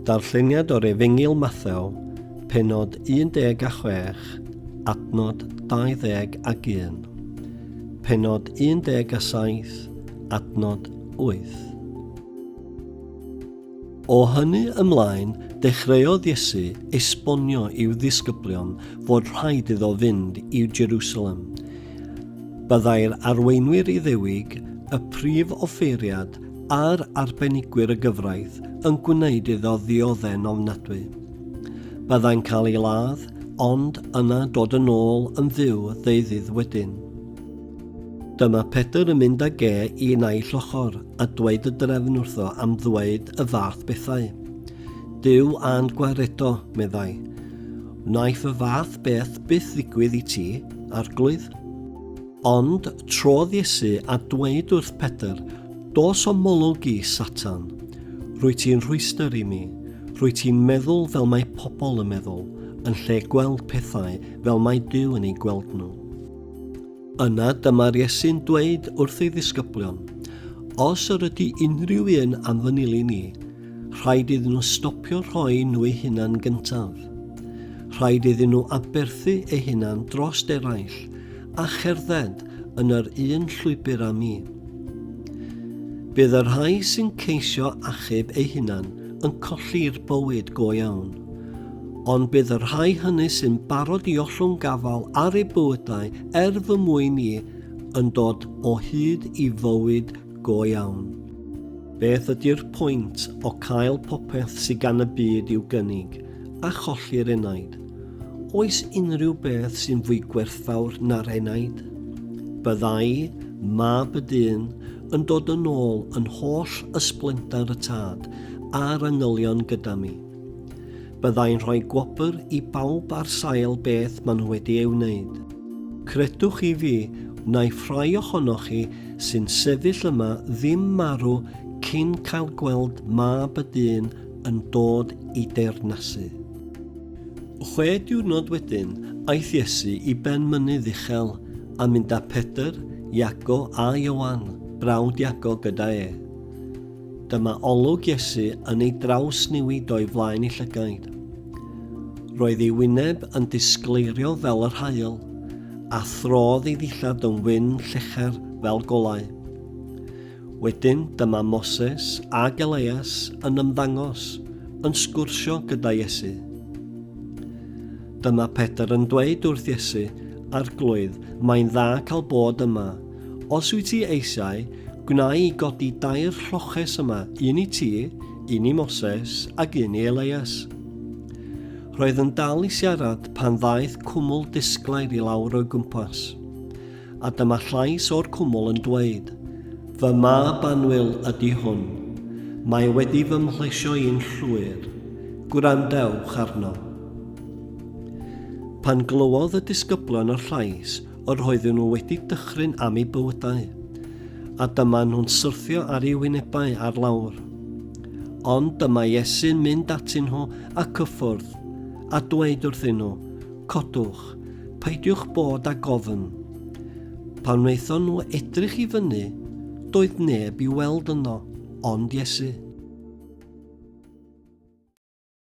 Darlleniad o'r Efengyl Mathew, penod 16, adnod 21, penod 17, adnod 8. O hynny ymlaen, dechreuodd Iesu esbonio i'w ddisgyblion fod rhaid iddo fynd i Jerusalem. Byddai'r arweinwyr Iddewig, y prif offeiriad a'r arbenigwyr y gyfraith yn gwneud iddo ddiodde'n ofnadwy. Byddai'n cael ei ladd, ond yna dod yn ôl yn fyw ddeuddydd wedyn. Dyma Pedr yn mynd ag e i naill ochr a dweud y drefn wrtho am ddweud y fath bethau. Dyw a'n gwaredo, meddai. Wnaeth y fath beth byth ddigwydd i ti, arglwydd? Ond trodd Iesu a dweud wrth Pedr, Dos o molwg i, Satan! Rwy ti'n rhwystr i mi. Rwy ti'n meddwl fel mae pobl yn meddwl, yn lle gweld pethau fel mae Duw yn ei gweld nhw. Yna dyma'r Iesu'n dweud wrth ei ddisgyblion, Os yr ydy unrhyw un am fy nili ni, rhaid iddyn nhw stopio rhoi nhw eu hunan gyntaf. Rhaid iddyn nhw aberthu eu hunan dros eraill a cherdded yn yr un llwybr â mi. Bydd y rhai sy'n ceisio achub eu hunan yn colli'r bywyd go iawn, ond bydd y rhai hynny sy'n barod i ollwng gafael ar eu bywydau er fy mwyn i yn dod o hyd i fywyd go iawn. Beth ydy'r pwynt o cael popeth sydd gan y byd i'w gynnig, a cholli'r enaid. Oes unrhyw beth sy'n fwy gwerthfawr na'r enaid? Byddai mab y dyn yn dod yn ôl yn holl ysblendar y tad a'r angylion gyda mi. Byddai'n rhoi gwobr i bawb ar sail beth maen nhw wedi ei wneud. Credwch i fi, wnaiff rhai ohonoch chi sy'n sefyll yma ddim marw cyn cael gweld mab y dyn yn dod i deyrnasu. Chwe diwrnod wedyn, aeth Iesu i ben mynydd uchel, a mynd â Pedr, Iago a Ioan, brawd Iago, gyda e. Dyma olwg Iesu yn ei drawsnewid o'i flaen ei llygaid. Roedd ei wyneb yn disgleirio fel yr haul, a throdd ei ddillad yn wyn llecher fel golau. Wedyn dyma Moses ag Elias yn ymddangos, yn sgwrsio gyda Iesu. Dyma Pedr yn dweud wrth Iesu, Arglwydd, mae'n dda cael bod yma. Os wyt ti eisiau, gwna i godi dair lloches yma, un i ti, un i Moses ac un i Elias. Roedd yn dal i siarad pan ddaeth cwmwl disglair i lawr o'i gwmpas. A dyma llais o'r cwmwl yn dweud, Fy mab annwyl ydy hwn. Mae wedi fy mhlesio i'n llwyr. Gwrandewch arno. Pan glywodd y disgyblion y llais, yr oedden nhw wedi dychryn am eu bywydau, a dyma nhw'n syrthio ar eu hwynebau ar lawr. Ond dyma Iesu'n mynd atyn nhw a cyffwrdd, a dweud wrthyn nhw, Codwch, peidiwch bod â gofn. Pan wnaethon nhw edrych i fyny, doedd neb i'w weld yno, ond Iesu.